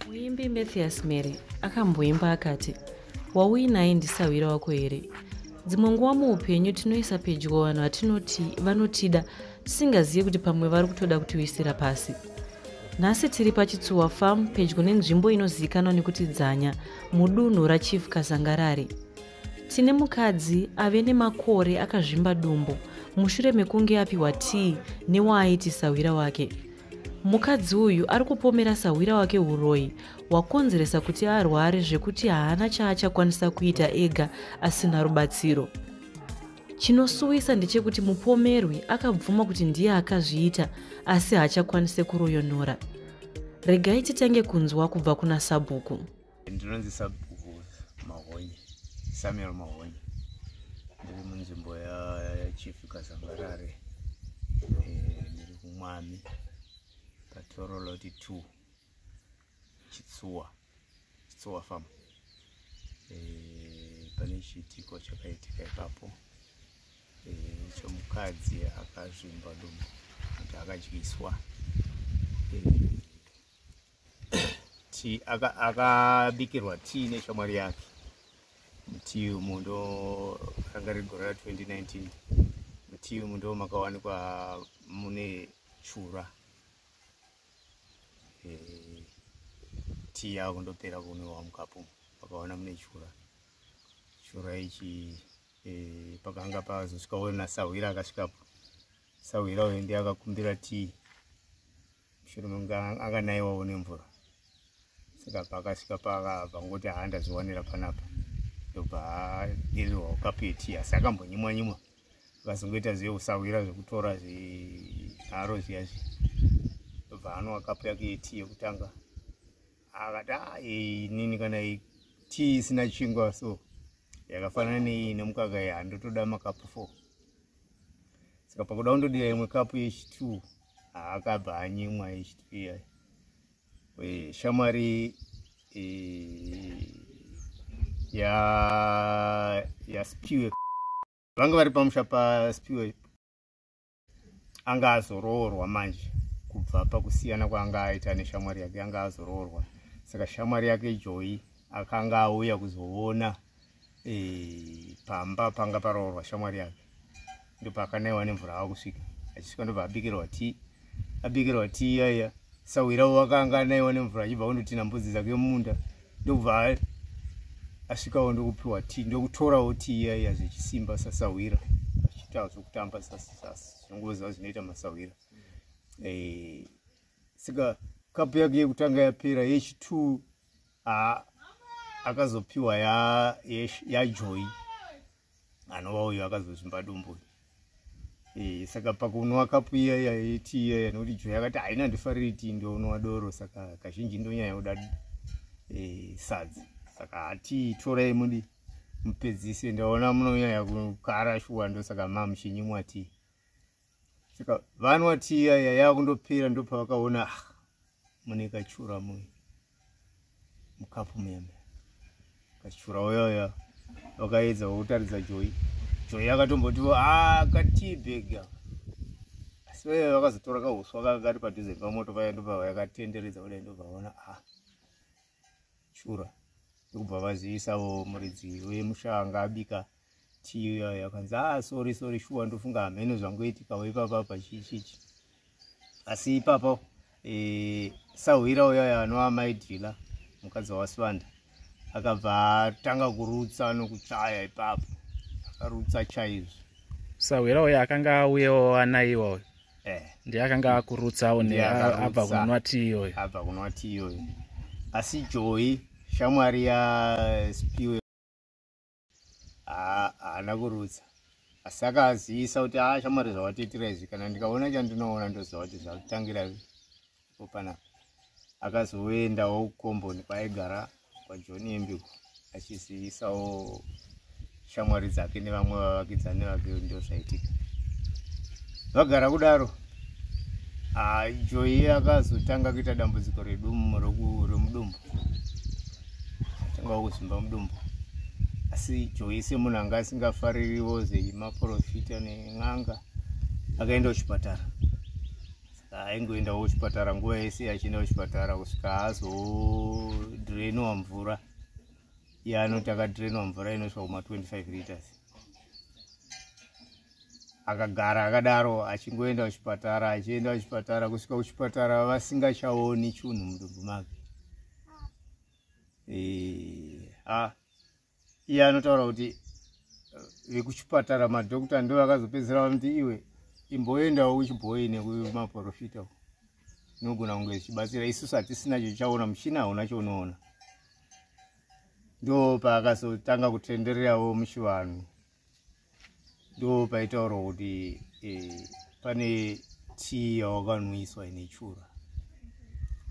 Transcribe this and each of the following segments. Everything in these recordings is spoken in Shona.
muimbi mathias mary akamboimba akati wauinaye ndisahwira wako here dzimwe nguva muupenyu tinoisa pedyo vanhu vatinoti vanotida tisingazive kuti pamwe vari kutoda kutiwisira pasi nhasi tiri pachitsuwa farm pedyo nenzvimbo inozivikanwa nekuti dzanya mudunhu rachief kazangarari tine mukadzi ave nemakore akazvimba dumbu mushure mekunge apiwa tii newaaiti sahwira wake Mukadzi uyu ari kupomera sahwira wake uroyi hwakonzeresa kuti arware zvekuti haana chaachakwanisa kuita ega asina rubatsiro. Chinosuwisa ndechekuti mupomerwi akabvuma kuti ndiye akazviita asi haachakwanise kuroyonora. Regai titange kunzwa kubva kuna Sabhuku. ndinonzi sabhuku mahonye samuel mahonye ndiri munzvimbo yachief kazambarare eh, ndiri kumwami patoroloti 2 chitsuwa chitsuwa fam eh, pane chiitiko chakaitika ipapo eh, chomukadzi akazvimba dumbu kuti akadyiswa tea aka- akabikirwa tea neshamwari yake mutii umu ndo ranga riri gore ra 2019 mutii umu ndo makawanikwa mune chura Eh, tea yavo ndopera kunwiwa mukapu umu. vakawana mune chura chura ichi eh, pakanga pazosvika wena sahwira akasvikapo sahwira uyu ndiye akakumbira tea mushure mekunge akanaiwawo nemvura saka paakasvika pangoti haandaziwanira panapa ndobva adirirwawo kapeti asi akambonyimwa nyimwa akazongoita zve usahwira zvekutora zvinharo zviya zvi ndobva anwa kapu yake yeti yekutanga akati a ah, inini kana tii isina chingwa so yakafanana neiyi nemukaka iyi handotoda makapu four saka pakuda kundodira imwe kapu yechitwo akabva anyimwa echitiya shamwari e, ya yaspiwe vanga vari pamusha paspiwe anga azoroorwa manje kubva pakusiyana kwaanga aita neshamwari yake anga azoroorwa saka shamwari yake joyi akanga auya kuzoona eh, pamba panga paroorwa shamwari yake ndopakanaiwa nemvura ava kusvika achisvika ndobva abikirwa tii abikirwa tii yaiya sahwirawo wakanga anaiwa nemvura achibva kundotina mbudzi dzake mumunda ndokubva asvikawo ndokupiwa tii ndokutorawo tii yaiya zvechisimba sasahwira achiitawo zvokutamba zvinongoziva zvinoita masahwira eh, saka kapu yake yekutanga yapera yechitwo haa akazopiwa yajoy ya anova uyo akazozvimba dumbu uyu e, saka pakunwa kapu iya yaiti iya yanokuti joy akati haina ndifariri tii ndonwa doro saka kazhinji ndonyaya yoda e, eh, sadzi saka hatii torai mudi mupedzise ndaona munonyaya kukara shuwa ndosaka mamuchinyimwa tii saka vanwa tiya yaya kundopera ndopavakaona ah, mune kachura mu mukapu muyambe kachura uyaya vakaedza kutaridza joyi joyi akatombotivo a ah, katibega asi vaye vakazotora kahuswa kakakati padhuze pamoto paya ndopava yakatenderedza kudai ndopavaona a ah. shura ndokubva vazivisawo muridzi wemusha anga abika tiyo yayo akanzi ah sorry sorry shuwa ndofunga hameno zvangoitikawo ipapa apa chichichi asi ipapa e, sahwira uyayo anova mai dhila mukadzi wawasivanda akabva atanga kurutsa nokuchaya ipapo akarutsa chaizvo sahwira uyo akanga auyewo anaiwa uyo eh. ndiye akanga akurutsawo abva kunwa tii iyoyo abva kunwa tii iyoyo asi joyi shamwari yaspiwe haana kurutsa asi akazivisa kuti a ah, shamwari zvawatiitira izvi kana ndikaona chandinoona ndoziva kuti zvakutangira opana akazoendawo kukomboni kwaaigara kwajoni yembiko achizivisawo shamwari dzake nevamwe vavakidzani vake ndo zvaitika vagara kudaro joyi akazotanga kuita dambudziko redumbu remudumbu atangawo kuzimba mudumbu asi joyi semunhu anga asingafaririwo zemaprofita nen'anga akaenda kuchipatara saka aingoendawo kuchipatara nguva yese achienda kuchipatara kusvika azodreniwa mvura iye anoti akadreniwa mvura inosvika kuma 25 liters akagara akadaro achingoenda kuchipatara achienda kuchipatara kusvika kuchipatara vasingachaoni chunhu mudumbu make e, ah. iye anotaura kuti eh, vekuchipatara madhokta ndo vakazopedzisira vanoti iwe imboendawo kuchibhoyi nekumaprofita inogona kunge zvichibatsira isusu hatisina chochaona muchina hauna chounoona ndo paakazotanga kutendererawo muchivanhu ndo paitaurwa kuti eh, pane tii yawakanwiswa ine chura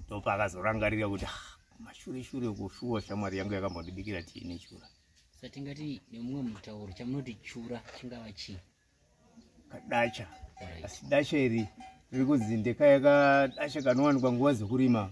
ndo paakazorangarira kuti ah, mashure shure kushuwa shamwari yangu yakambondibikira tii ine chura satingati nemumwe mutauro chamunoti chura chingava chii kadacha asi dacha iri riri kunzi ndekayakadacha kanowanikwa nguva dzekurima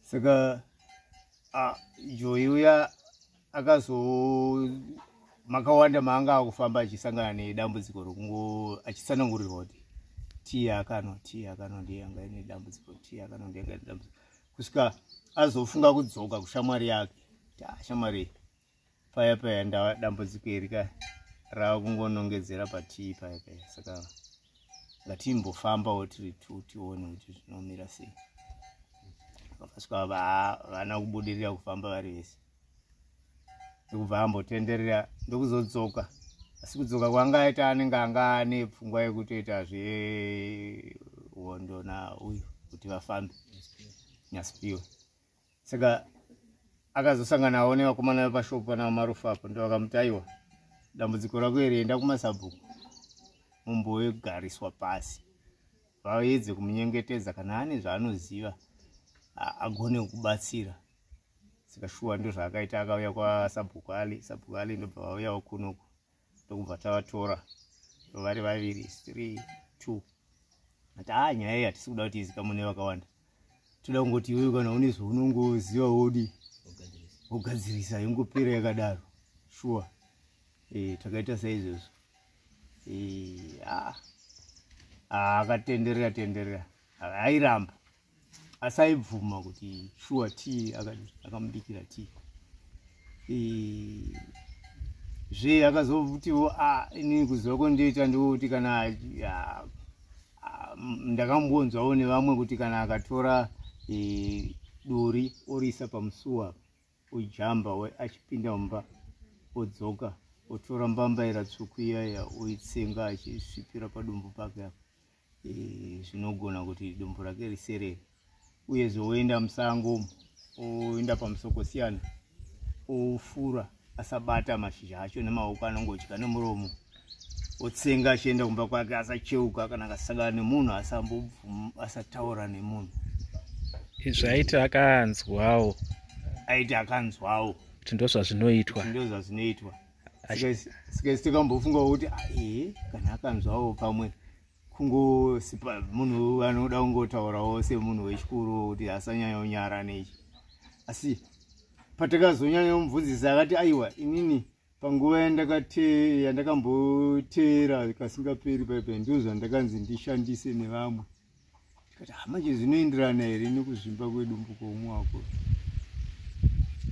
saka joyi uya akazo makawanda maanga akufamba achisangana nedambudziko rokungo achitsanangurirwa kuti tii akanwa tii akanwa ndiye anga ine dambudziko tii akanwa ndiye anga ine dambudziko kusvika azofunga kudzoka kushamwari yake kuti ashamwari ah, paya paya ndava dambudziko iri ka rava kungonongedzera patii paya paya saka ngatimbofambawo tiri tu tione kuti zvinomira sei vakasvika vana kubudirira kufamba vari vese ndokubva ambotenderera ndokuzodzoka asi kudzoka kwanga aita anenge anga ane pfungwa yekutoita zvehondo nauyu kuti vafambe nyasipiwe saka akazosanganawo nevakomana vepashopu pana marufu apo ndo vakamuti aiwa dambudziko rako iri enda kumasabhuku mumbogariswa pasi vaedze kumunyengetedza kana ane zvaanoziva agone kubatsira saka shuwa ndozvaakaita akauya kwasabhuku ali sabhuku ali ndobva vauyawo kunoku ndokubva tavatora vari vaviri three two ati haa nyaya iyi hatisi kuda kuti izikamwe nevakawanda toda kungoti iwewe kana une zvaunongoziva wodi wogadzirisa yongopera yakadaro shuwa eh, takaita saizvozvo eh, ah, ah, akatenderera tenderera airamba asi aibvuma kuti shuwa t akamubikira t e, zve akazovutiwo ah, inini kuziva kwandoita ndookuti kana ndakambonzwawo nevamwe kuti kana akatora e, duri oriisa pamusuwa ojamba achipinda mumba odzoka otora mbambaira tsvuku iyaya oitsenga achisvipira padumbu pake apa eh, zvinogona kuti dombo rake riserere uye zvoenda musango oenda pamusoko siyana ofura asabata mashizha acho nemaoko anongodya nemuromo otsenga achienda kumba kwake asacheuka kana akasangana nemunhu asataura nemunhu izvi aiti akanzwawo aiti akanzwawo kuti ndozvazvinoitwa ndozvazvinoitwa sikaisi tikambofungawo kuti ae kana akanzwawo pamwe kungosipa munhu anoda kungotaurawo semunhu wechikuru kuti asanyanya unyara nechi asi patakazonyanya kumubvunzisa akati aiwa inini panguva yandakakamboteera kasingaperi paipe ndozvandakanzi ndishandise nevamwe tikati ah, manje zvinoenderana here nekuzvimba kwedumbu kwoumwe wako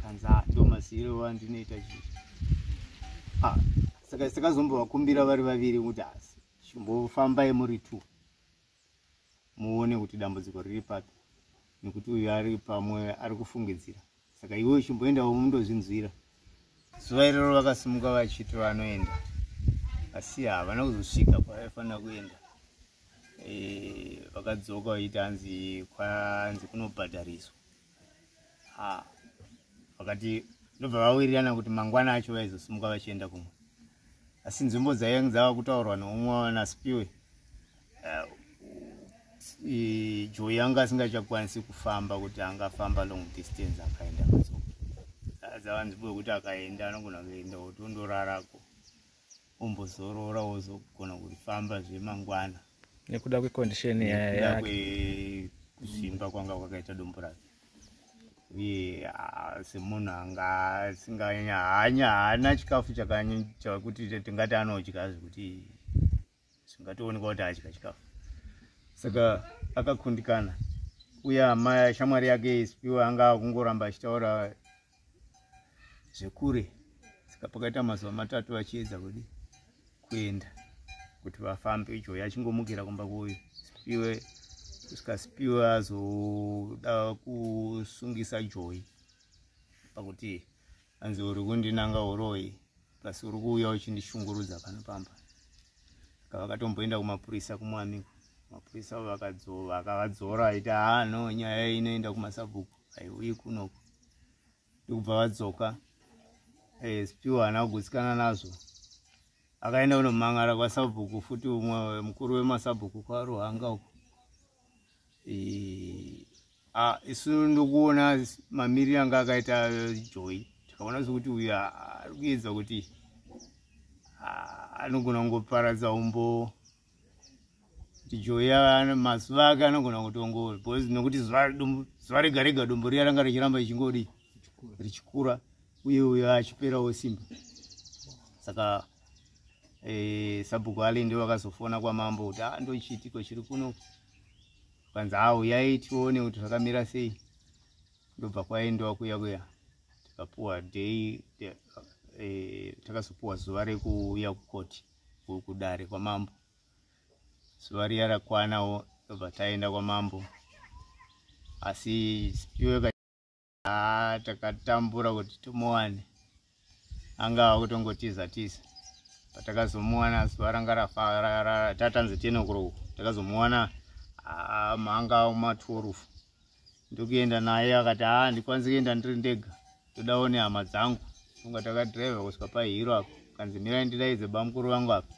kanza ah, ndo masiyiro wandinoita chii ah, saka sakazombovakumbira vari vaviri kuti asi chimbofambai muri two muone kuti dambudziko riri papi nekuti uyu ari pamwe ari kufungidzira saka iwe uchimboendawo mundozvinzwira zuva iroro vakasimuka vachiti vanoenda asi havana kuzosvika kwavaifanira kuenda eh, vakadzoka vachiita hanzi kwanzi kunobhadhariswa ah, vakati ndobva vawirirana kuti mangwana acho vaizosimuka vachienda kumwe asi nzvimbo dzaive dzava kutaurwa neumwe wanaspiwe eh, joy anga asingachakwanisi kufamba kuti angafamba long distance akaenda kaso azavanzipo yekuti akaenda anogona kuenda otondorarako ombozorora ozogona kufamba zvemangwana nekuda kwecondition yake kuzvimba kwanga kwakaita dombo rake uye semunhu anga asinganyanya haana chikafu chakanyanya kuti tingati anodya zvekuti zvingatoonekwa kuti adya chikafu saka akakundikana uye amai shamwari yake isipiwa anga akungoramba achitaura zvekure saka pakaita mazuva matatu vachiedza kudi kuenda kuti vafambe joy achingomukira kumba kuyo sipiwe kusvika sipiwe azoda kusungisa joy pakuti hanzi uri kundinanga uroyi plus uri kuuya uchindishungurudza pano pamba saka vakatomboenda kumapurisa kumwamiko mapurisa avo vakadzova akavadzora aiti haa no nyaya inoenda kumasabhuku haiuyi kunoko ndikubva vadzoka asp eh, haana kugutsikana nazvo akaenda kunomangara kwasabhuku futi umwe mukuru wemasabhuku kwaruhanga uko Eh, ah, isu ndokuona mamiriro anga akaita joy tikaona sekuti uyu ari kuedza kuti ah, anogona kungoparadza umbo kuti joy mazuva ake anogona kutongo because nokuti zuva rega rega dombo riya ranga richiramba ichingodi richikura uye uyo achiperawo simba saka eh, sabhuku alinde vakazofona kwamambo kuti ah, ndochiitiko chiri kuno kwanzi haa uyai tione kuti zvakamira sei ndobva kwaendiwa kuya kuya tikapuwa day eh, takazopuwa zuva rekuuya kukoti kudare kwamambo zuva riya rakwanawo ndobva taenda kwamambo asi haa takatambura kuti timuwane anga ava kutongotiza tiza patakazomuwana zuva ranga rafatatanzi tiene kuroku takazomuwana manga matworufu ndokuenda naye akati haa ndikwanisi kuenda ndiri ndega todawo nehama dzangu funga takadriva kusvika pahiro apo kanzi mirai ndidaidze bamukuru vangu apa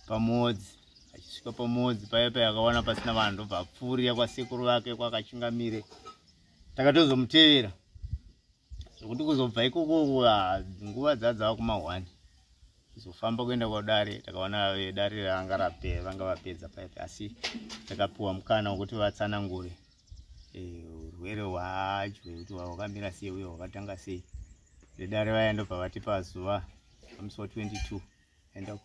pamodzi achisvika pamodzi paya paya akawana pasina vanhu ndobva apfuurira kwasekuru vake kwakachingamire takatozomutevera zvekuti kuzobva ikoko ah, nguva dzadzava kuma one kuzofamba kuenda kwadare takaona dare ranga rape vanga vapedza paya paya asi takapiwa mukana wekuti vatsanangure eh, urwere hwacho hwekuti hwakamira sei uye hwakatanga sei vedare vaya ndobva vatipa zuva pamusi wa 22 enda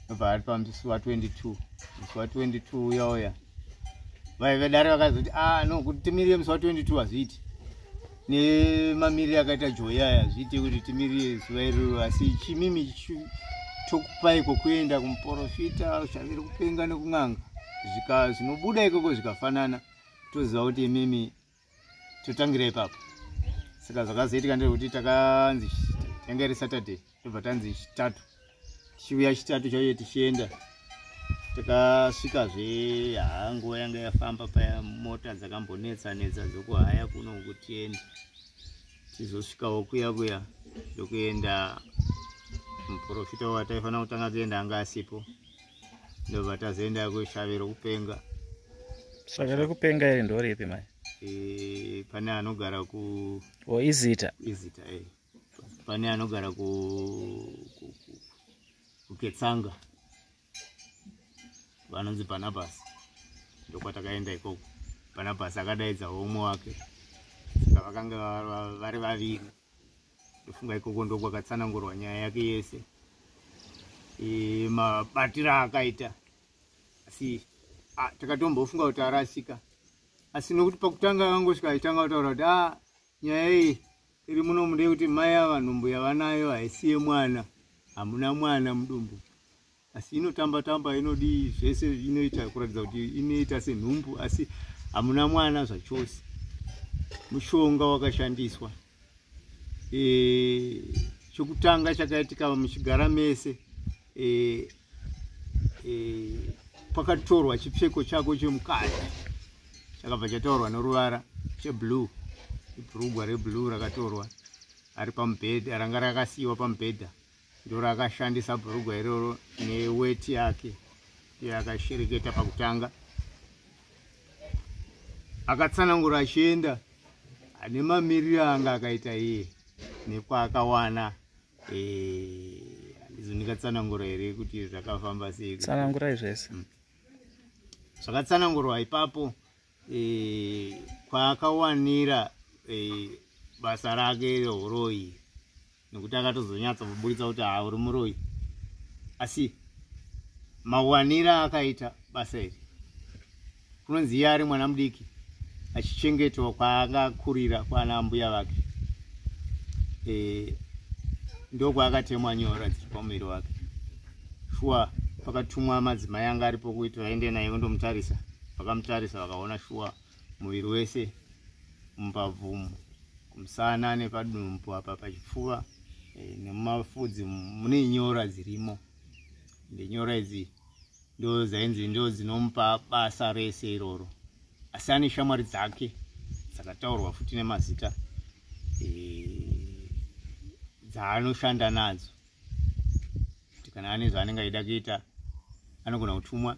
obva ari pamusi wa 22 musi wa 22 uya uya vaive dare vakazoti a ah, no kuti timirire musi wa 22 hazviiti nemamirire akaita joya aya hazviite kuti timirire zuva iroro asi chimimi tokupai kwokuenda kumuporofita ushaviri kupenga nekun'anga zvika zvinobuda ikoko zvikafanana toziva kuti imimi totangira ipapo saka zvakazoitika ndezvekuti takanzi yanga iri saturday tobva tanzi chitatu tichiuya chitatu chaiye tichienda takasvikazve haa nguva yanga yafamba paya mota dzakambonetsa netsa dzokuhaya kuno kutiende tizosvikawo kuya kuya ndokuenda muprofita wataifanira kutanga kuenda anga asipo ndobva tazoenda kushave rokupenga shave rokupenga iri ndoripi mai e, pane anogara ku o izita izita e pane anogara ku kuketsanga vanonzi pana basi ndokwatakaenda ikoko pana basi akadaidza homwe wake saka vakanga vari vaviri ndofunga ikoko ndokwakatsanangurwa nyaya yake yese e, mabatiro aakaita asi takatombofunga kuti arasika asi nokuti pakutanga akangosvika aitanga kutaura kuti a nyaya iyi iri muno mude kuti mai avanhumbu yavanayo haisiye mwana hamuna mwana mudumbu asi inotamba tamba inodii zvese inoita kuratidza kuti inoita senhumbu asi hamuna mwana zvachose mushonga wakashandiswa e, chokutanga chakaitika muchigara mese e, e, pakatorwa chipfeko chako chemukati chakabva chataurwa noruvara cheblue ibhurugwa reblue rakatorwa ari pamubhedha ranga rakasiyiwa pamubhedha ndorakashandisa bhurugwa iroro neweti yake yakashereketa pakutanga akatsanangura achienda ane mamiriro anga akaita iye nekwaakawana eh, handizo ndingatsanangura here kuti zvakafamba sei tsanangurai zvese mm. zvakatsanangurwa ipapo e, kwaakawanira e, basa rake reuroyi nekuti akatozonyatsa kuburitsa kuti haa uri muroyi asi mawanira akaita basa iri kunonzi iye ari mwana mudiki achichengetwa kwaanga akurira kwana ambuya vake e, ndokwaakatemwa nyora dziri pamuviri wake shuwa pakatumwa madzimai anga aripo kuti vaende naye vondomutarisa vakamutarisa vakaona shuwa muviri wese mumbabvumu kumusana nepadumbu apa pachipfuva eh, nemumafudzi mune nyora dzirimo ende nyora idzi ndo dzainzi ndo dzinomupa basa rese iroro asi ane shamwari dzake dzakataurwa futi nemazita eh, dzaanoshanda nadzo kuti kana ane zvaanenge aida kuita anogona kutumwa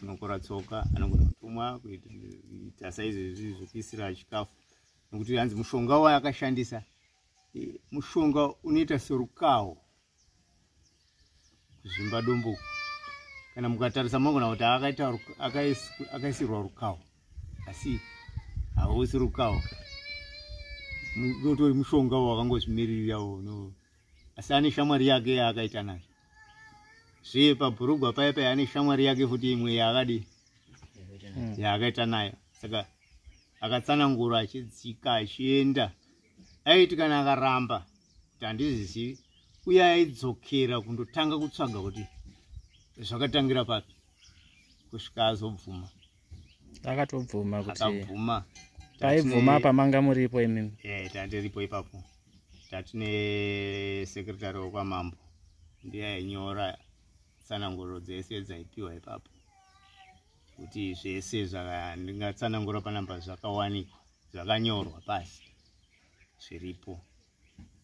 anokora tsoka anogona kutumwa kuita saizvezvi zvekuisira chikafu nokuti hanzi mushonga wayo akashandisa e, mushonga unoita serukawo kuzvimba dombo kana mukatarisa mogona kuti akaisirwa rukawo asi hausi rukawo utori mushonga wakangozvimiririrawo no asi ane shamwari yake yaakaita nayo zve pabhurugwa paya paya ane shamwari yake futi imwe yaakadi hmm. yaakaita nayo saka akatsanangura achidzika achienda aiti kana akaramba kuti handizizivi uye aidzokera kundotanga kutsvaga kuti zvakatangira papi kusvika azobvuma akatobvuma kuti akabvuma paibvuma apa manga muripo imimi eh tandiripo ipapo tatine secretary wekwamambo ndiye ainyora tsananguro dzese dzaipiwa ipapo kuti zvese zvandingatsanangura panamba zvakawanikwa zvakanyorwa pasi zviripo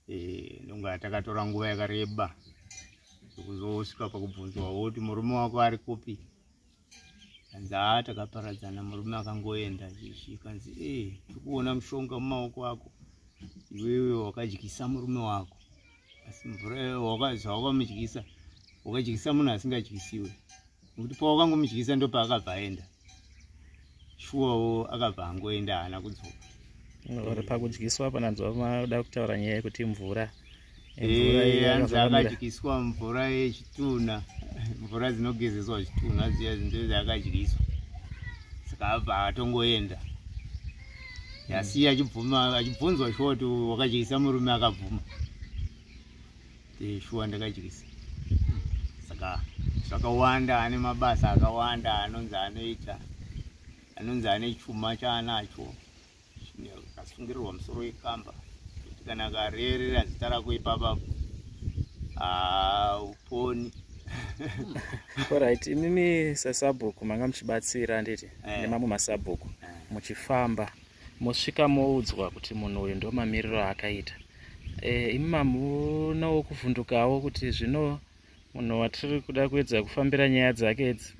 eh, ndonga takatora nguva yakareba kuzosvika pakubvunzwa woti murume wako ari kupi hanzi haa takaparadzana murume akangoenda chikanzi e eh, tikuona mushonga mumaoko ako iwewe wakadyisa murume wako asi mvura zvawakamudyisa wakadyisa munhu asingadyisiwe nekuti pawakangomudyisa ndopaakabva aenda shuwawo akabva angoenda haana kudzoka uri pakudyiswa apa nanzwa maoda kutaura nyaya yekuti mvura anzi eh, akadyiswa mvura yechitunha mvura dzinogezeswa zvitunha zviya zinto zvaakadyiswa saka abva atongoenda yasiya achibvuma achibvunzwa shoti wakadyisa murume akabvuma eh, shuwa ndakadyisa saka zvakawanda ane mabasa akawanda anonzi anoita anonzi ane chuma chaanacho akasungirirwa musoro wekamba kuti kana akarerera zita rako ipapa uponi orit imimi sasabhuku manga muchibatsira handiti eh. nemamwe masabhuku eh. muchifamba mosvika moudzwa kuti munhu uyu ndomamiriro akaita Eh, imi mamunawo kuvhundukawo kuti zvino munhu watiri kuda kuedza kufambira nyaya dzake idzi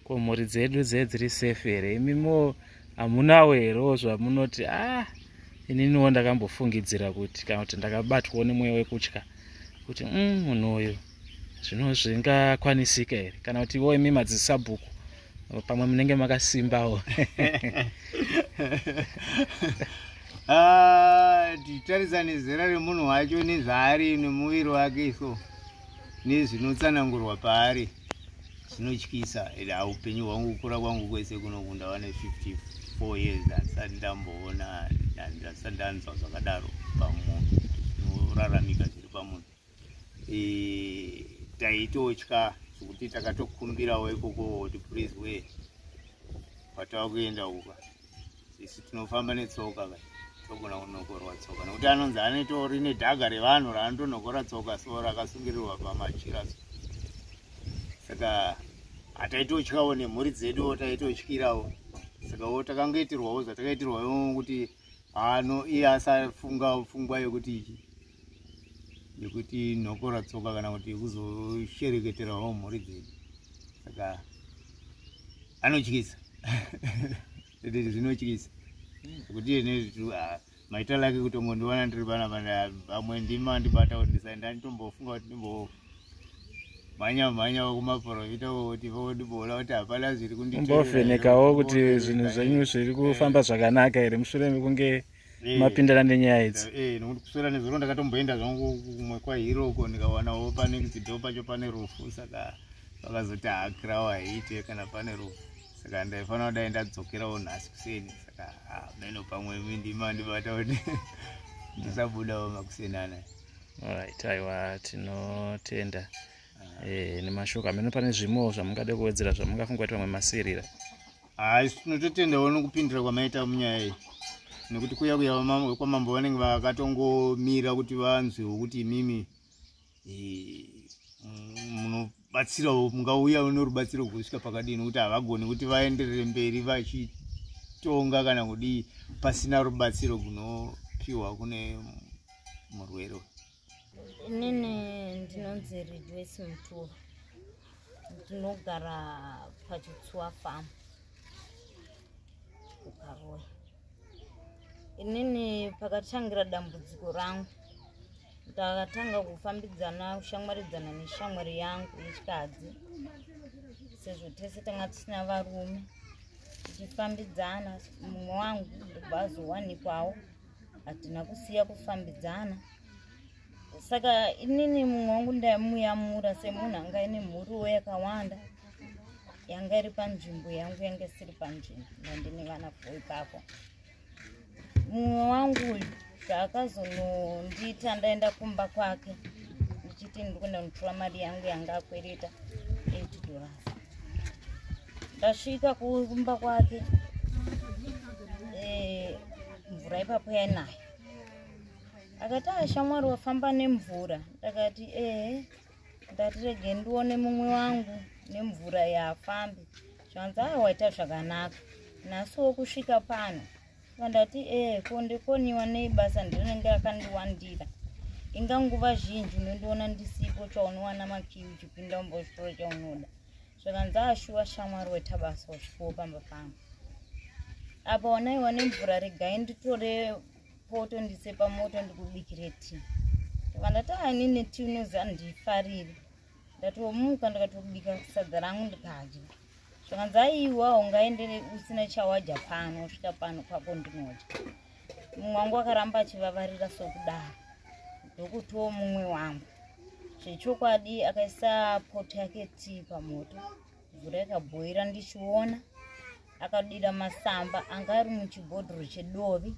ko mhuri dzedu dze dziri safe here imimiwo hamunawo herewo zvamunoti ah ininiwo ndakambofungidzira kuti kana kuti ndakabatwawo nemweya wekutya kuti mm, munhu uyu zvino zvingakwanisika here kana kuti wo imi madzisabhuku pamwe munenge makasimbawo ah, titarisa nezera remunhu wacho nezvaari nemuviri wake so nezvinotsanangurwa paari zvinotyisa and aupenyu hwangu kukura kwangu kwese kunokunda vane 54 years ndasati ndamboona ndasati ndanzwa zvakadaro pamunhu zvinoraramika zviri pamunhu e, taitotya zvekuti takatokumbirawo ikoko kuti please we kwatava kuenda uka isu tinofamba netsoka ka togona kunokorwa tsoka nekuti anonzi anotori nedhaga revanhu raanotonokora tsoka so rakasungirirwa pamachira so saka hataitotyawo nemhuri dzeduwo taitotyirawo saka wo takangoitirwawo zvatakaitirwawo kuti ano iye asafunga pfungwa yekuti yekuti nhokora tsoka kana kuti kuzoshereketerawo mhuri dzedu saka anotyisa zvinotyisa kuti ine ah, maita lake kutongondiwana ndiri pana vamwe ndima ndibata kuti ndisaenda nditombofunga kuti ndimbo mhanya mhanya kumaporofita kuti vodibola kuti hapana zviri kundivhenekawo kuti zvinhu zvenyu zviri kufamba zvakanaka here mushure mekunge Eh, mapindana nenyaya idzi nda- eh, nokuti kuswera nezuro ndakatomboenda zvangu kumwe kwahiro uko ndikawanawo pane kizido pacho pane rufu saka vakazoti haakirawo haiite kana pane rufu saka ndaifanira kudai ndadzokerawo nhasi kuseni saka ah, meno pamwe mindima ndibata kuti ndisabudawo makuseni anaya alright aiwa tinotenda eh, nemashoko ameno pane zvimwewo zvamungade kuwedzera zvamungafunga kuti vamwe masirira haa isu tinototendawo nokupindira kwamaita munyaya iyi nekuti kuya kuya kwamambo vanenge vakatongomira kuti vanzwewo kuti imimi munobatsirawo mungauya norubatsiro kusvika pakadii nokuti havagoni kuti vaenderere mberi vachitonga kana kudii pasina rubatsiro gunopiwa kune murwere inini ndinonzi rejoice muturo ndinogara pachitsuwa farm kukaroyi inini pakatangira dambudziko rangu ndakatanga kufambidzana kushamwaridzana neshamwari yangu yechikadzi sezvo tese tanga tisina varume tichifambidzana mumwe wangu ndobva azowanikwawo hatina kusiya kufambidzana saka inini mumwe wangu ndaimuyamura semunhu anga ine mhuriwo yakawanda yanga iri panzvimbo yangu yanga isiri panzvimbo ndandine vana fo ipapo mumwe wangu uyu zvaakazonondiita ndaenda kumba kwake ndichiti ndiri kuenda kunditora mari yangu yanga akwereta eight dollars ndasvika kumba kwake mvura ipapo yainaya akati ashamwari ah, wafamba nemvura ndakati ehe ndatirege ndione mumwe wangu nemvura yaafambi zvanzi aa ah, waita zvakanaka nhasi wokusvika pano vandati ehe ko ndikoniwa nei basa ndinenge akandiwandira inga nguva zhinji unondiona ndisipo chaunowana makiwi uchipinda umbozvitora chaunoda zvakanzi ashuwa shamwari wetabasa usvikowo pamba pangu apa wanaiwa nemvura regai nditore poto ndise pamoto ndikubikire ti ndikandati ainini ti unoziva ndifarire ndatomuka ndikatobika sadza rangu ndikadya zvakanzi aiwa ungaendere usina chawadya pano usvika pano kwako ndinodya mumwe wangu akaramba achivavarira sokudaro ndokutowo mumwe wangu zvechokwadi akaisa poto yake tii pamoto mvura ikabhoira ndichiona akadira masamba anga ari muchibhodhoro chedovi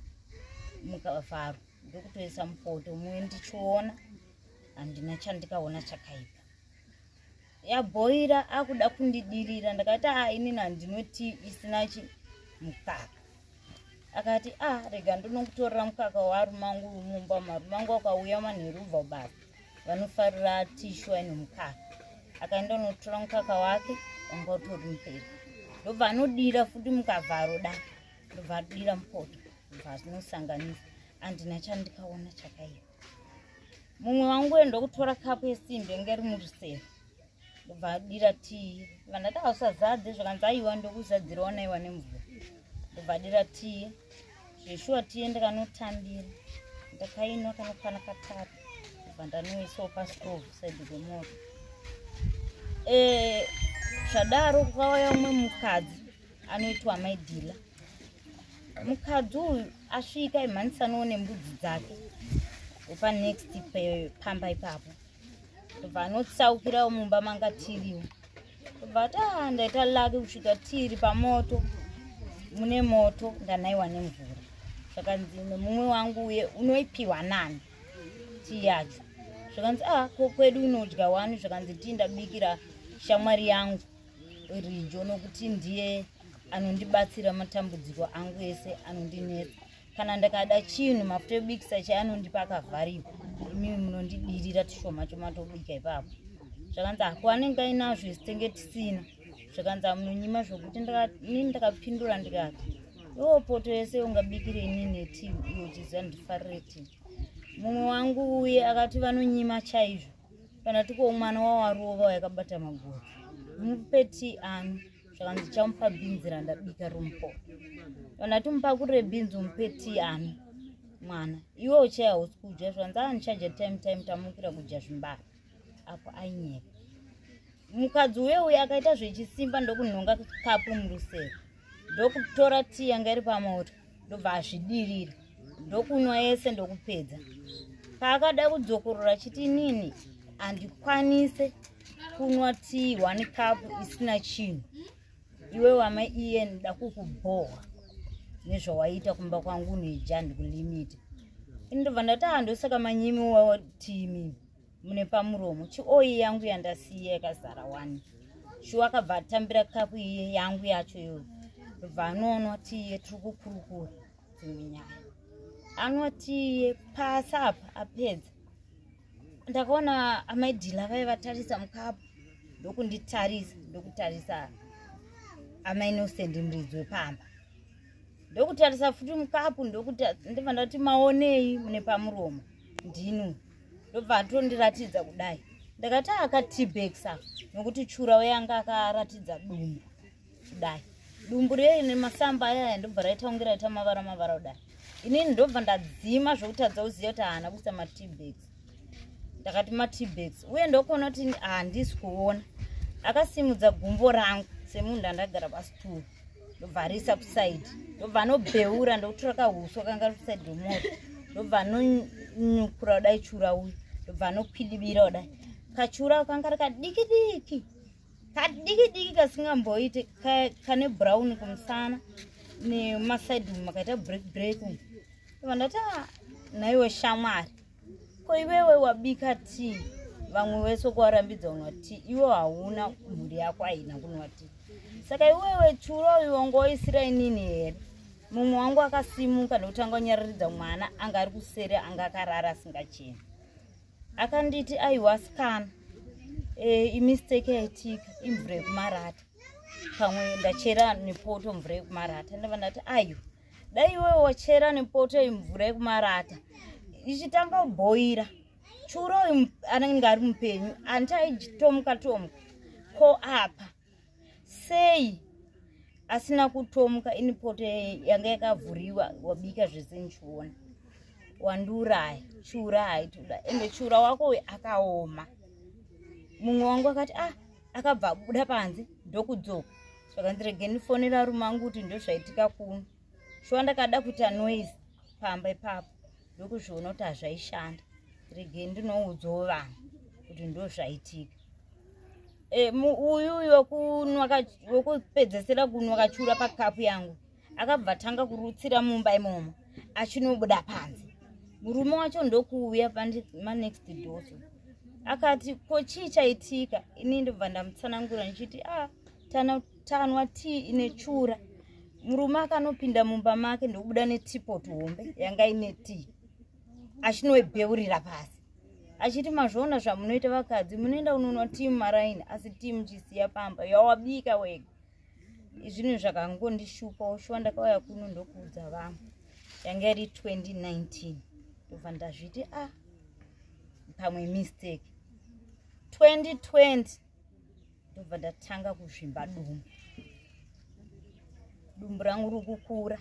mukavharo ndokutoisa mupoto mumwe ndichiona handina chandikaona chakaipa yabhoira akuda kundidirira ndakati a ah, inini handinoti isina chi mukaka akati a ah, rega ndinokutorera mukaka warumangu mumba marumangu akauya manheruva basa vanofarira tishwa inomukaka akaenda unotora mukaka wake wanga utori muperi ndobva anodira futi mukavharo da ndobva adira mupoto ndobva azinosanganisa andina chandikaona chakaiva mumwe wangu uye ndokutora kapu yesimbe inge ri murusero ndobva adira tii vandati ausazadze zvakanzi aiwa ndokuzadzirawo naiwa nemvura ndobva adira tii zveshuwa tiye ndikanotambira ndakainwa kanokwana katatu ndobva ndanoisawo pastove saidi kwemoto eh, zvadaro kwauya umwe mukadzi anoitwa mai dhila mukadzi uyu asvika imhanisaniwo nembudzi dzake opa next pamba ipapo obva anotsaukirawo mumba manga tiriwo obva ati a ah, ndaita lake kusvika tiri pamoto mune moto ndanaiwa nemvura zvakanzi nemumwe wangu uye unoipiwa nani tii yacho zvakanzi a ah, ko kwedu unodya wani zvakanzi tii ndabikira shamwari yangu rijo nokuti ndiye anondibatsira matambudziko angu ese anondinetsa kana ndakada chinhu mafuta ebikisa chaanondipa akavharika imi munondidirira tushoma chomatobika ipapo zvakanzi hako anenge ainazvo isi tenge tisina zvakanzi amunonyima zvokuti ini ndakapindura ndikati iwo poto yese ungabikire ini neti iyo chiziva ndifarire ti mumwe wangu uye akati vanonyima chaizvo kana tiko mwana wawarova yakabata maguru mupe ti ano zvakanzi chamupa bhinzi randabika romupo kana timupakurire bhinzi umupe ti ano mwana iwe uchaya hausi kudya zvanzi andichaja ah, time time tamukira kudya zvimbara apo ainyeka mukadzi uye uye akaita zvechisimba ndokunhonga kapu murusero ndokutora tii yanga iri pamoto ndobva azvidirira ndokunwa yese ndokupedza paakada kudzokorora chiti nini handikwanise kunwa tii one cup isina chinhu iwe wamai iye nda kukubhohwa nezvawaiita kumba kwangu neja ndikulimita ini ndobva ndati handosaka manyimi wawa tii mimi mune pamuromo chioyi yangu yandasiya yakazara wani shuwa akabva atambira kapu iye yangu yacho iyo bva anoonwa tiye tiri kukurukura dzimwe nyaya anwa tiye pasi apa apedza ndakaona amaidhila vaye vatarisa mukapu ndokunditarisa ndokutarisa amainosendi muridzi wepamba ndokutarisa futi mukapu ndokuti ndibva ndati maonei mune pamuromo ndinwe ndobva atondiratidza kudai ndakati akatibeksa nokuti chura weyanga akaratidza dumbu kudai dumbu rei nemasamba ayaya ndobva raita kunge raita mavara mavara kudai inini ndobva ndadzima zvokutadza kuziva kuti haana kuisa matibeks ndakati matibeks uye ndokuona kuti handisi kuona akasimudza gumbo rangu semunhu andagara pasituru ndobvarisa kusaidi ndobva anobheura ndokutora kahuswa kanga ri kusaidi remoto ndobva anonyukura kudai chura uyu ndobva anokwidibira kudai kachura kanga ri kadiki diki kadiki diki kasingamboite kane brown kumusana nemasaidi umu makaita break break umu ndobva ndati ah, naiwe shamwari ko iwewe wabika tii vamwe wese kuwarambidza unwa tii iwe hauna mhuri yako haina kunwa tii saka iwewe churo uyu wangoisira inini here mumwe wangu akasimuka ndokutanga kunyararidza mwana anga ari kuseri anga akarara asingacheni akanditi aiwa sikana e, imistake yaitika imvura yekumarata pamwe ndachera nepoto mvura yekumarata ndava ndati aiwa dai iwe wochera nepoto yemvura yekumarata ichitanga kubhoira churo anenge ari mupenyu anti aitomuka tomuka ko apa sei asina kutomuka ini poto yanga yakavhuriwa wabika zvese ndichiona wandiuraya chura haitoda ende chura wako akaoma mumwe wangu akati ah akabva abuda panze ndokudzoka zvakandiregeni fonera rume angu kuti ndozvaitika kuno shuwa ndakada kuita noise pamba ipapo ndokuzviona kuti hazvaishanda regeni ndinoudzawo vanhu kuti ndozvaitika e, uyu uyu wekupedzesera kunwa kachiura pakapu yangu akabva tanga kurutsira mumba imomo achinobuda panze murume wacho ndokuuya pamanext doso akati ko chii chaitika ini ndobva ndamutsanangura ndichiti a ah, tana tanwa tii ine chura murume akanopinda mumba make ndokubuda netipot hombe yanga ine tii achinoebheurira pasi achiti mazvoona zvamunoita vakadzi munoenda unonwa tii mumaraini asi tii muchisiya pamba yawabika wega zvinhu zvakangondishupa ushuwa ndakauya kuno ndokuudza vamwe yanga iri 2019 ndobva ndazviti a ah, pamwe mistake 2020 ndobva ndatanga kuzvimba dumbu dumbu rangu ri kukura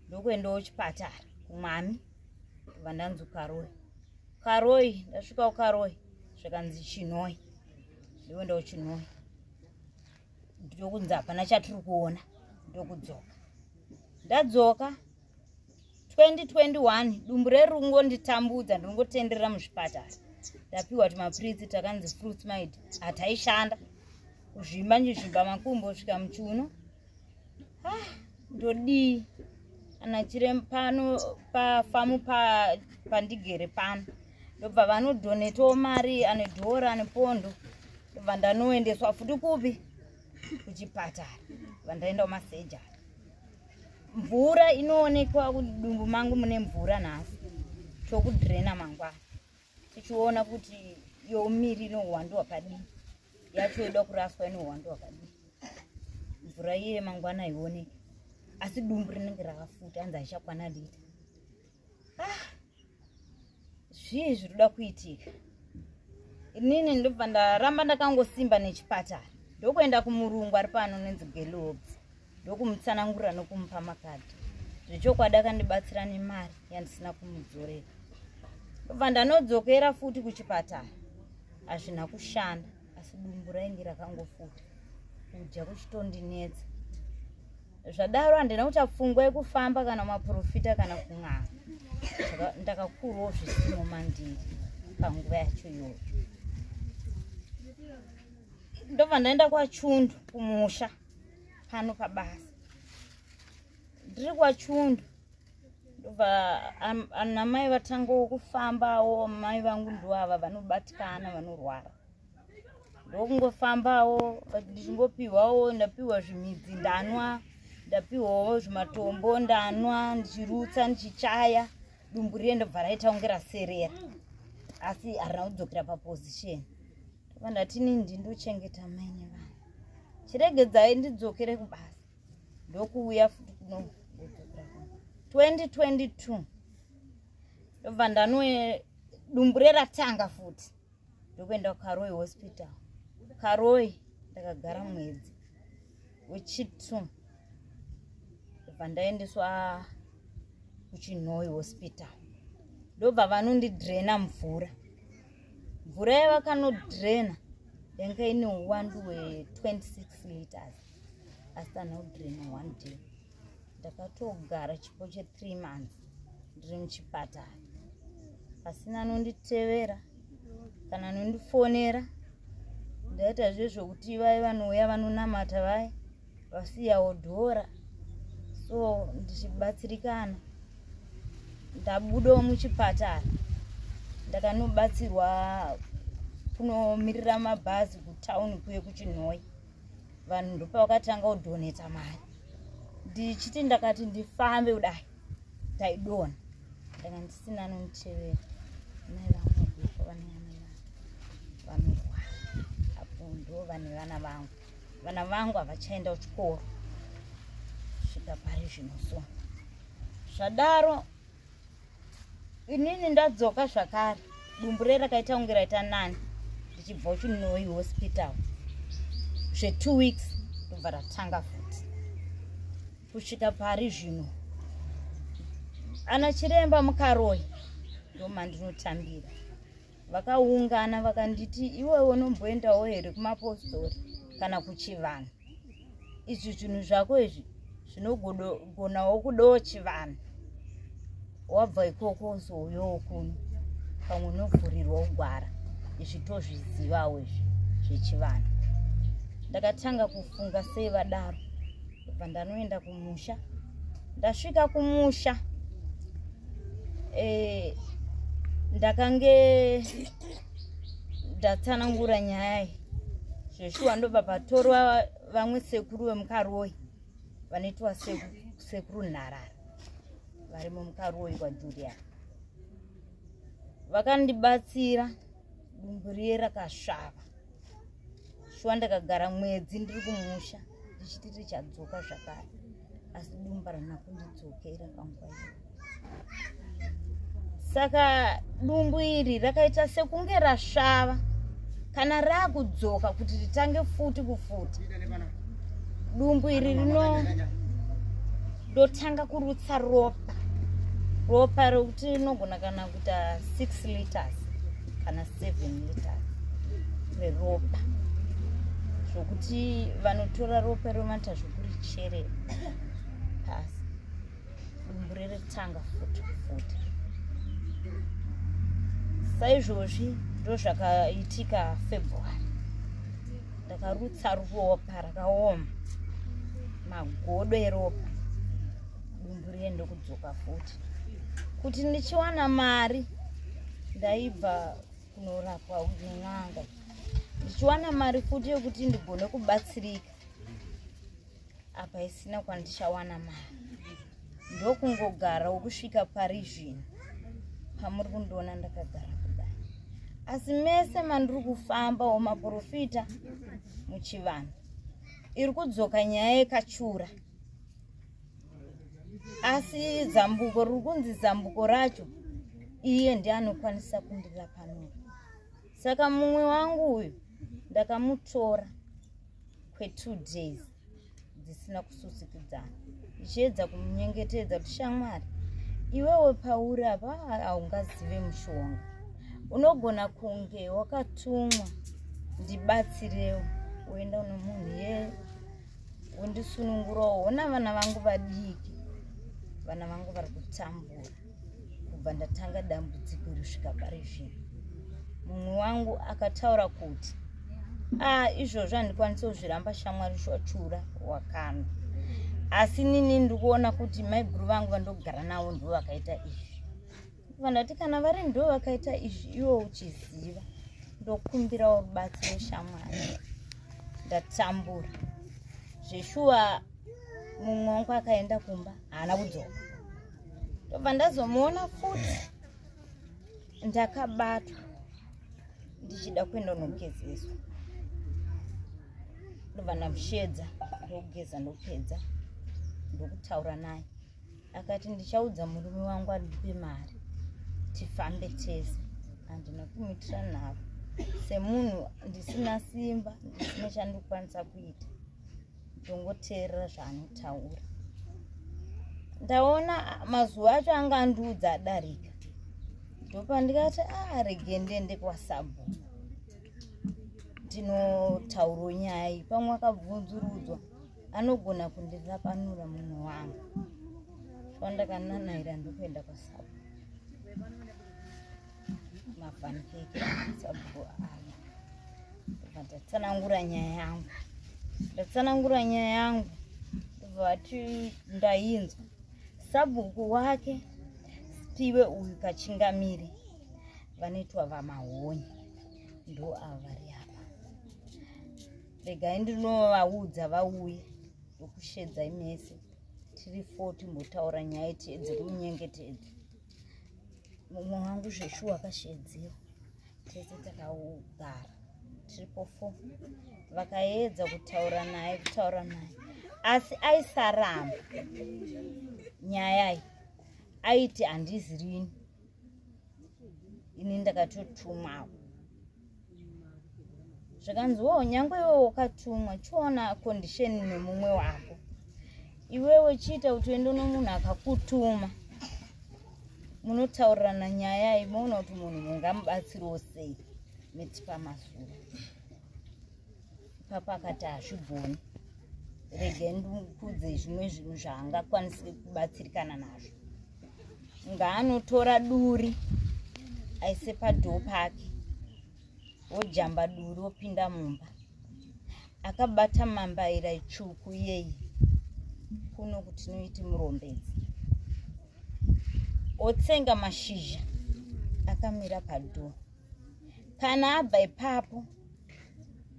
ndokuendawo chipatara kumwami ndobva ndanzi ukaroyi ukaroyi ndasvika ukaroyi zvikanzi chinoi ndokuendawo chinoi ndokunzi hapana chatiri kuona ndokudzoka ndadzoka 2021 dumbu rerungo nditambudza ndinongotenderera muzvipatara ndapiwa timapiritsi takanzi fruits mid hataishanda kuzvimba ndizvimba makumbo svika muchuno ah. ndodii kana chiremba pano pafamu pandigere pano ndobva vanodhonetawo mari ane dhora ane pondo ndobva ndanoendeswa futi kupi kuchipatara bva ndaenda kumasejari mvura inoonekwa kudumbu mangu mune mvura nhasi tokudrena mangwana tichiona kuti youmiri inohuwandu hwakadii yacho yoda kuraswa inohuwandu hwakadii mvura iye mangwana haioneki asi dumbu rinenge rakafuta anzi haichakwana lita ah, zvii zviri kuda kuitika inini ndobva ndaramba ndakangosimba nechipatara ndokuenda kumurungu ari pano nenzi gelobs ndokumutsanangurira nokumupa makadhi zvechokwadi akandibatsira nemari yandisina kumudzorera ndobva ndanodzokera futi kuchipatara hazvina kushanda asi dumbu rainge rakangofuta kudya kuchitondinetsa zvadaro handina kuita pfungwa yekufamba kana maprofita kana kun'anga ndakakurwawo zvisimo mandiri panguva yacho iyoyo ndobva ndaenda kwachundu kumusha pano pabasa ndiri kwachundu ndobva anamai vatangawo kufambawo mai vangu ndo ava vanobatikana vanorwara ndokungofambawo ndichingopiwawo ndapiwa zvimidzi ndanwa ndapiwawo zvimatombo ndanwa ndichirutsa ndichichaya dumbu riye ndobva raita kunge raserera asi harina kudzokera paposition vanhu vatini ndindochengeta maine vanhu chiregedzai ndidzokere kubasa ndokuuya futi kuno 2022 ndobva ndanoe dumbu reratanga futi ndokuenda kukaroi hospital karoi ndakagara mwedzi wechitu ndobva ndaendeswa kuchinhoi hospital ndobva vanondidraina mvura mvura yavakanodrena yanga ine uwandu we26 liters asi tanodrena one day ndakatogara chipo chethree months ndiri muchipatara pasina anonditevera kana anondifonera ndaita zvezvokuti vaye vanouya vanonamata vaye vasiyawo dhora so ndichibatsirikana ndabudawo muchipatara ndakanobatsirwa kunomirira mabhazi kutown kuye kuchinhoi vanhu ndopavakatanga kudhoneta mari ndichiti ndakati ndifambe kudai ndaidona ndanga ndisina anonditevera mai vangu vaduka vaneyana vangu vanorwara apo ndo vane vana vangu vana vangu havachaenda kuchikoro svika pari zvino so zvadaro inini ndadzoka zvakare dumbu re rakaita kunge raita nani ndichibva uchinoi hospital zvetwo weeks ndobva ratanga futi kusvika pari zvino ana chiremba mukaroyi ndomandinotambira vakaungana vakanditi iwewe unomboendawo here kumapostori kana kuchivanhu izvi zvinhu zvako izvi zvinogonawo kudawo chivanhu wabva ikoko uzouyawo kuno pamwe unovhurirwa kugwara izvi tozvizivawo izvi zvechivanhu ndakatanga kufunga sei vadaro ndobva ndanoenda kumusha ndasvika kumusha eh, ndakange ndatsanangura nyaya iyi zveshuwa ndobva patorwa vamwe sekuru vemukaroi vanoitwa sekuru nharara varimo mukaroi kwajulia vakandibatsira dumbu riye rakasvava shuwa ndakagara mwedzi ndiri kumusha ndichiti richadzoka zvakare asi dumba rana kundidzokera panguva iyo saka dumbu iri rakaita sekunge rasvava kana raakudzoka kuti ritange futi kufuti dumbu iri rino ndotanga kurutsa ropa ropa rokuti rinogona kana kuita six liters kana seven liters reropa zvokuti vanotora ropa romata zvokurichere pasi dumbu reretanga futi futi saizvozvi ndozvakaitika february ndakarutsa ropa parakaoma magodo eropa dumbu riye ndokudzoka futi kuti ndichiwana mari ndaibva kunorapwa nen'anga ndichiwana mari futi yekuti ndigone kubatsirika apa isina kwandichawana mari ndokungogara wokusvika pari zvino pamuri kundiona ndakagara kudai asi mese mandiri kufamba womaprofita muchivanhu iri kudzoka nyaya yekachura asi zambuko riri kunzi zambuko racho iye ndiye anokwanisa kundira panoro saka mumwe wangu uyu ndakamutora kwetu days dzisina kususikidzana ichiedza kunyengetedza kuti shamwari iwewe pauri apa haungazive mushonga unogona kunge wakatumwa ndibatsirewo uenda uno munhu ye undisunungurawo ona vana vangu vadiki vana vangu vari kutambura kubva ndatanga dambudziko risvika pari zvino mumwe wangu akataura kuti ah izvozvo handikwanisi kuzviramba shamwari shwachura wakana asi nini ndikuona kuti maiguru vangu vandogara navo ndo vakaita izvi vandati kana vari ndo vakaita izvi iwo uchiziva ndokumbirawo rubatsiro shamwari ndatambura zveshuwa mumwe wangu akaenda kumba haana kudzoka ndobva ndazomuona futi ndakabatwa ndichida kuenda unogezeswa ndobva ndamushedza ndokugeza ndopedza ndokutaura naye akati ndichaudza murume wangu andipe mari tifambe tese handina kumitira nharo semunhu ndisina simba ndisina chandikwanisa kuita ndongoteerera zvaanotaura ndaona mazuva acho anga andiudza adarika ndopandikati arege ah, ndende kwasabu ndinotauro nyaya pamwe akabvunzurudzwa anogona kundirapanura munhu wangu fandakananaira ndokuenda kwasabu mafanikeke sabhuku aya ndobva ndatsanangura nyaya yangu ndatsanangura nyaya yangu ndobva vati ndainzwa sabhuku wake sipiwe uyu kachingamiri vanoitwa vamahonye ndo ava vari apa regai ndinovaudza vauye ndokushedzai mese tiri fo timbotaura nyaya tiedze kunyengetedza mumwe wangu zveshuwa kashedzero tese takaugara triple four vakaedza kutaura naye kutaura naye asi aisaramba nyayai aiti handizirini ini ndakatotumwawo zvikanziwawo nyangwe iwe wakatumwa chiona condition nemumwe wako iwewe chiita kuti uende nomunhu akakutuma munotaurirana nyaya iyi moona kuti munhu mungamubatsiriwo sei miti pamazuro ipapo akati hazvigoni rege ndikudze zvimwe zvinhu zvaangakwanisi kubatsirikana nazvo ngaanotora duri aise padhoo pake wojamba duri wopinda mumba akabata mambaira itsvuku iyeyi kuno kuti noiti murombedzi otsenga mashizha akamira padhoo kana abva ipapo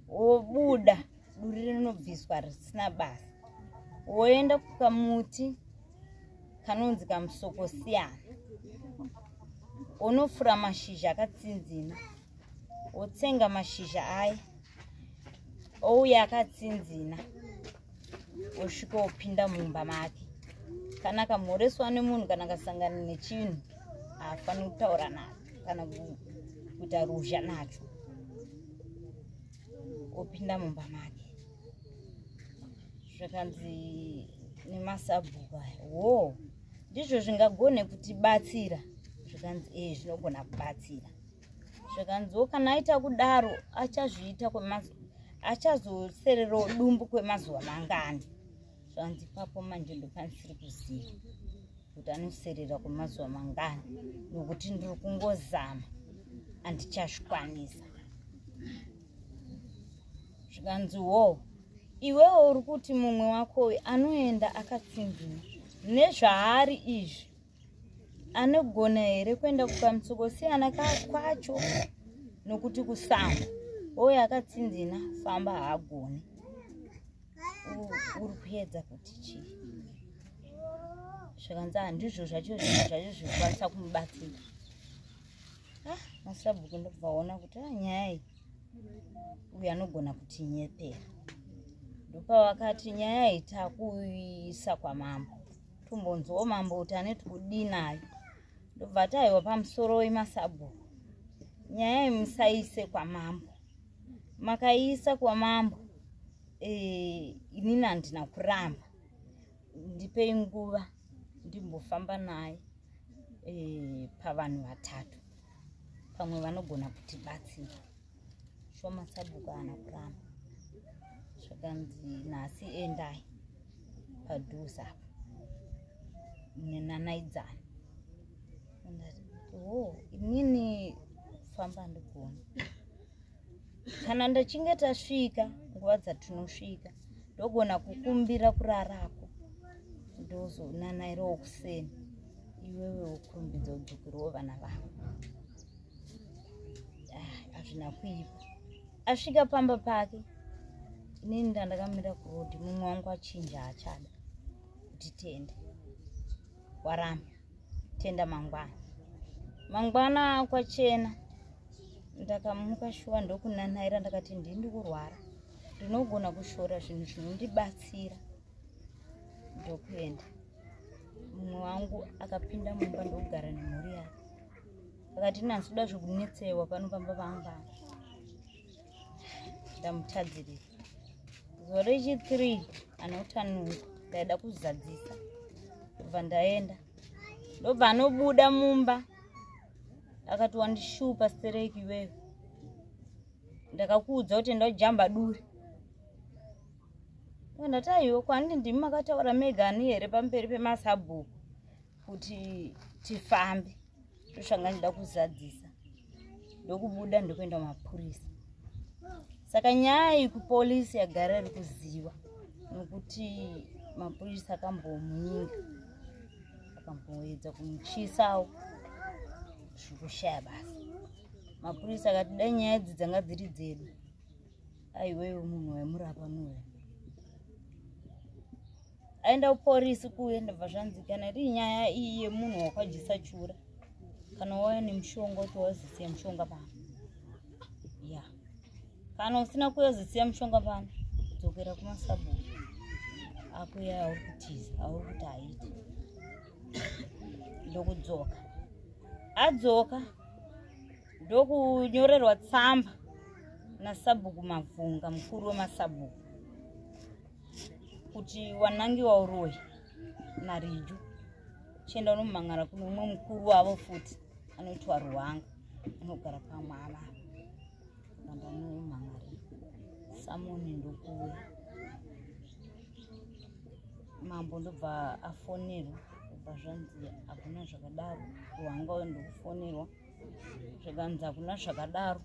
wobuda duri rinobviswa risina basa woenda kukamuti kanonzi kamusokosiyana unofura mashizha akatsinzina wotsenga mashizha aya ouya akatsinzina osvika opinda mumba make kana kamhoreswa nemunhu kana kasangana nechinhu haafaniri kutaura nacho kana kuita ruzha nacho opinda mumba make zvakanzi nemasabhuku aya wo ndizvo zvingagone kutibatsira zvikanzi e eh, zvinogona kubatsira zvikanziwo kana aita kudaro achazviita achazosererawo dumbu kwemazuva mangani zvanzi papo manje ndopanisiri kuziva kuti anoserera kwemazuva mangani nokuti ndiri kungozama andichazvikwanisa zvikanzi wo iwewo uri kuti mumwe wako uyu anoenda akatsinzina nezvaari izvi anogona here kuenda kukamtsoko siyana kwacho nokuti kusango oyo akatsinzina famba haagoni uri kuedza kuti chii zvakanzi handizvo zvacho zvinhu zvacho zvikukwanisa kumubatsira ah, masabhuku ndobvaona kuti a ah, nyaya iyi uyu anogona kuti nyepera ndopavakati nyaya iyi takuisa kwamambo tumbonzwawo mambo kuti anoti kudii nayo ndobva ati aiwa pamusoro wemasabhuku nyaya imusaise kwamambo makaiisa kwamambo e, inini handina kuramba ndipei nguva ndimbofamba naye e, pavanhu vatatu pamwe vanogona kutibatsira shoma sabhuku haana kuramba zvakanzi nhasi endai padhuze apo nenanaidzana o oh, inini famba ndigona kana ndachinge tasvika nguva dzatinosvika ndogona kukumbira kurarako ndozonanairawo kuseni iwewe wokurumbidza udzukuru wovana vavo hazvina kuipa asvika pamba pake inini ndandakamira kuroad mumwe wangu achinja achada kuti tenda waramba tenda mangwana mangwana kwachena ndakamuka shuwa ndokunanaira ndakati ndindi kurwara ndinogona kushora zvinhu zvinondibatsira ndokuenda mumwe wangu akapinda mumba ndokugara nemhuri yake akati nansi uda zvekunetsewa pano pamba pamba ndamutadzirira zuva rechithree anotanuka ndaida kuzadzisa kubva ndaenda ndobva anobuda mumba akati wandishupa stereki iweyo ndakakuudza kuti enda ujamba duri ndati aiwe kwani ndimi makataura mega ani here pamberi pemasabhuku kuti tifambe ndoshanga ndida kuzadzisa ndokubuda ndokuenda mapurisa saka nyaya iyi kupolisi yagara iri kuziva nokuti mapurisa akambomunyinga akamboedza kumuchisawo zvikushaya basa mapurisa akati dai nyaya idzi dzanga dziri dzedu aiwewe munhu waimurapa nuwe aenda kuporisi kuye ndabva zvanzikana iri nyaya iyi yemunhu wakwajisa chura kana wauya nemushonga kuti wazisiya mushonga pano ya kana usina kuya uzisiya mushonga pano dzokera kumasabhuku akuya auri kutiza auri kuti haiti ndokudzoka adzoka ndokunyorerwa tsamba nasabhuku mabvunga mukuru wemasabhuku kuti wanangi wauroyi narijo chienda unomumangara kune umwe mukuru wavo futi anoitwa ruwanga anogara pamwe ava ramba nomumangari samoni ndokuwe mambo ndobva afonerwa ubva zvanzi hakuna zvakadaro ruwanga uyo ndokufonerwa zvikanzi hakuna zvakadaro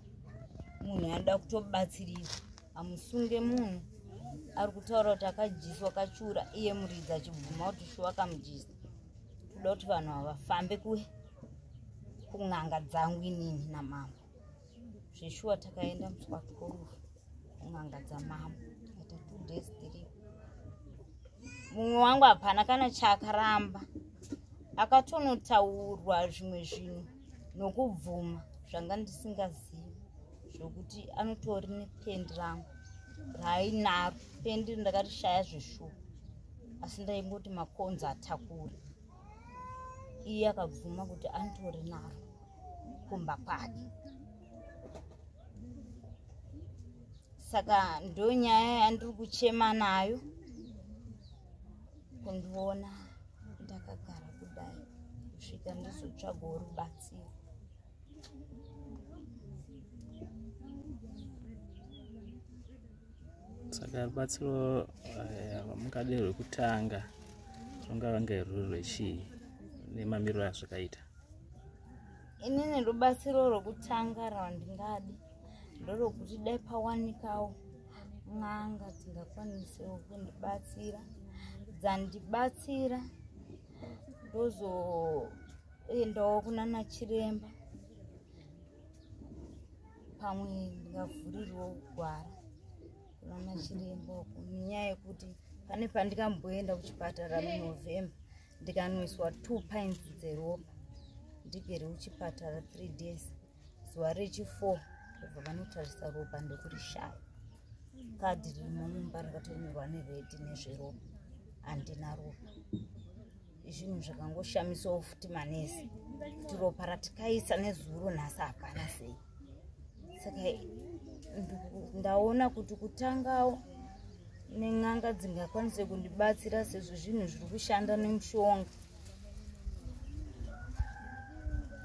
munhu anoda kutobatsirira amusunge munhu ari kutaura kuti akadyiswa kachura iye muridzi achibvuma kuti shuwa akamudyisa kuda kuti vanhu havafambe kuwe kun'anga dzangu inini namambo zveshuwa takaenda muswatikorufu n'anga dzamama ita two days three mumwe wangu hapana kana chaakaramba akatonotaurwa zvimwe zvinhu nokubvuma zvanga ndisingazivi zvokuti anotori nependi rangu raainaro pendi ndakarishaya zveshuwa asi ndaingoti makonzi atakure iye akabvuma kuti anditori naro kumba kwake saka ndo nyaya yandiri kuchema nayo kundiona ndakagara kudai kusvika ndizotsvagawo rubatsiro saka rubatsiro eh, mukade rwekutanga rungava ngeruri rwechii nemamiriro azvakaita inini rubatsiro rwokutanga rwandingadi ndorokuti dai pawanikawo n'anga dzingakwanisawo kundibatsira dzandibatsira ndozoendawo kuna nachiremba pamwe ndingavhurirwo gwara kuna nachiremba uku nenyaya yekuti pane pandikamboenda kuchipatara munovhemba ndikanwiswa two pines dzeropa ndigere uchipatara three days zuva rechifour kubva vanotarisa ropa ndokurishaya kadhi ririmo mumba rakatonyorwa neredi nezveropa handina ropa zvinhu zvakangoshamisawo futi manesi kuti ropa ratikaisa nezuro nhasi hapana sei saka ndaona kuti kutangawo nen'anga dzingakwanise kundibatsira sezvo zvinhu zviri kushanda nemushonga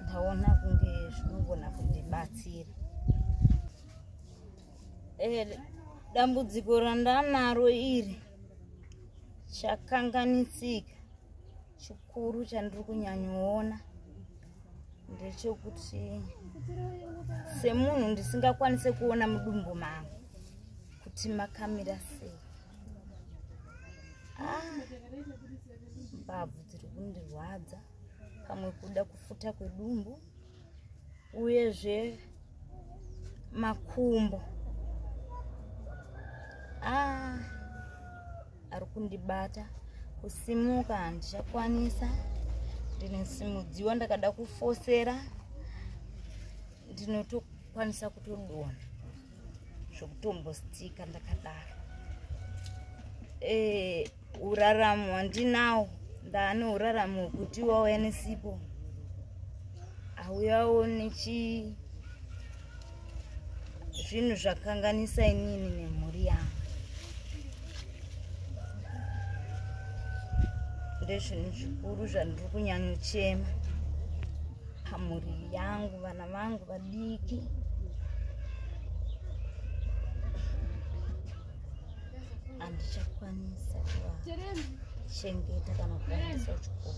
ndaona kunge zvinogona kundibatsira eh, dambudziko randanaro iri chakanganisika chikuru chandiri kunyanyoona ndechekuti semunhu ndisingakwanise kuona mudumbu mangu kuti makamira sei ah, mbabvu dziri kundirwadza pamwe kuda kufuta kwedumbu uyezve makumbo ah, ari kundibata kusimuka handichakwanisa ndinosimudziwa ndakada kufosera ndinotokwanisa kutodona zvokutombostika ndakadaro eh, uraramo handinawo ndaane uraramo hwekuti wauya nesipo hauyawo nechi zvinhu zvakanganisa inini nemhuri yangu ndezvinhu zvikuru zvandiri kunyanyochema pamhuri yangu vana vangu vadiki handichakwanisa kuchengeta kana kuendesa kuchikoro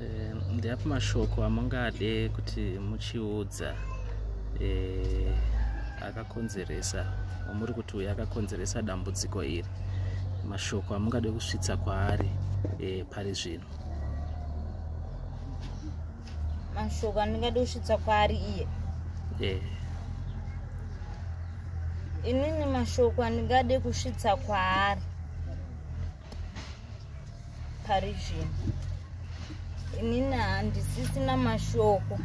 eh, ndeapo mashoko amungade kuti muchiudza eh, akakonzeresa amuri kuti uyo akakonzeresa dambudziko iri mashoko amungade kusvitsa kwaari eh, pari zvino mashoko andingadi kusvitsa kwaari iye eh. inini mashoko andingadi kusvitsa kwaari pari zvino inini handisisina mashoko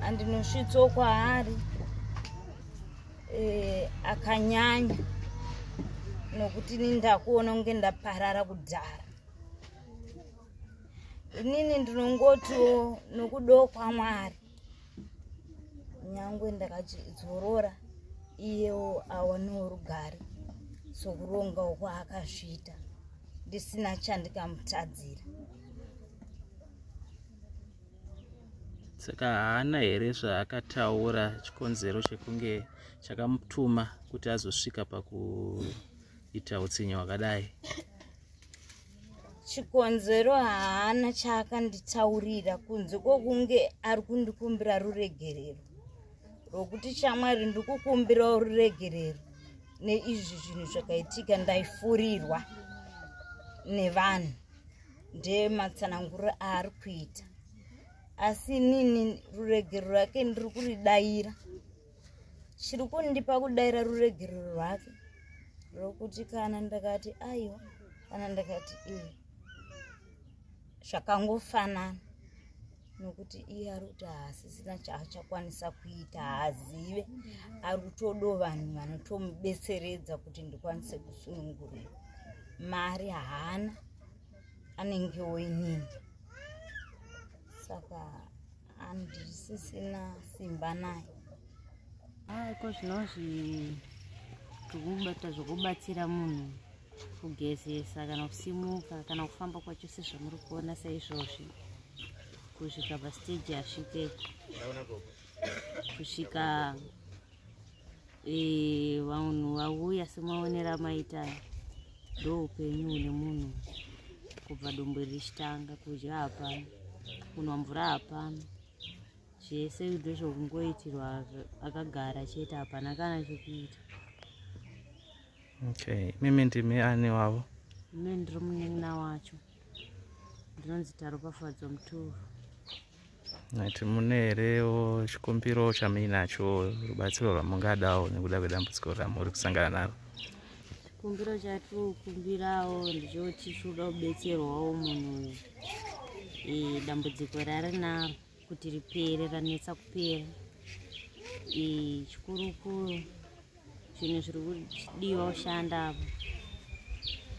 andinosvitso kwaari eh, akanyanya nokuti ini ndakuona kunge ndaparara kudhara inini ndinongotiwo nokudo kwamwari nyangwe ndakadzorora iyewo awanewo rugare sokuronga uko akazviita ndisina chandikamutadzira saka haana here zvaakataura chikonzero chekunge chakamutuma kuti azosvika pakuita utsinye hwakadai chikonzero haana chaakanditaurira kunze kwokunge ari kundikumbira ruregerero rwokuti shamwari ndikukumbirawo ruregerero neizvi zvinhu zvakaitika ndaifurirwa nevanhu ndeematsananguro aari kuita asi inini ruregerero rake ndiri kuridayira chiri kundipa kudaira ruregerero rwake rwokuti kana ndakati aiwa kana ndakati iye zvakangofanana nokuti iye ari kuti haasisina chaachakwanisa kuita haazive ari kutodo vanhu vanotomubetseredza kuti ndikwanise kusunungurira mari haana anenge woinini saka andisisina simba naye aiko ah, zvinozvi tikubata zvokubatsira munhu kugezesa kana kusimuka kana kufamba kwacho sezvamuri kuona saizvozvi kusvika pasteji asvike kusvika Eh, vanhu vauya semaonera amaita ndo upenyu une munhu kubva dumbu richitanga kudya hapana kunwa mvura hapana zvese kudo zvokungoitirwa akagara chete hapana kana chekuita okay mimi ndimi ani wavo ime ndiri munin'ina wacho ndinonzi taropafadzo mutoro nati mune herewo chikumbiro chamuinacho rubatsiro rwamungadawo nekuda kwedambudziko ramuri kusangana naro chikumbiro chatikumbirawo ndichoti chinoda kubetserwawo munhu uyu dambudziko rarinaro kuti ripere ranetsa kupera chikurukuru zvinhu zviri kudiwa kushanda apo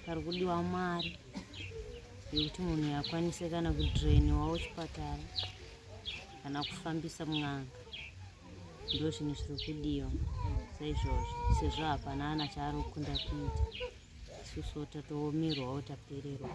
pari kudiwa mari yekuti munhu yakwanise kana kudrainiwawo chipatara kana kufambisa mun'anga ndo zvinhu zviri kudiwa saizvozvo sezvo hapana ana chaari kukunda kuita isusuwo tatoomerwawo tapererwa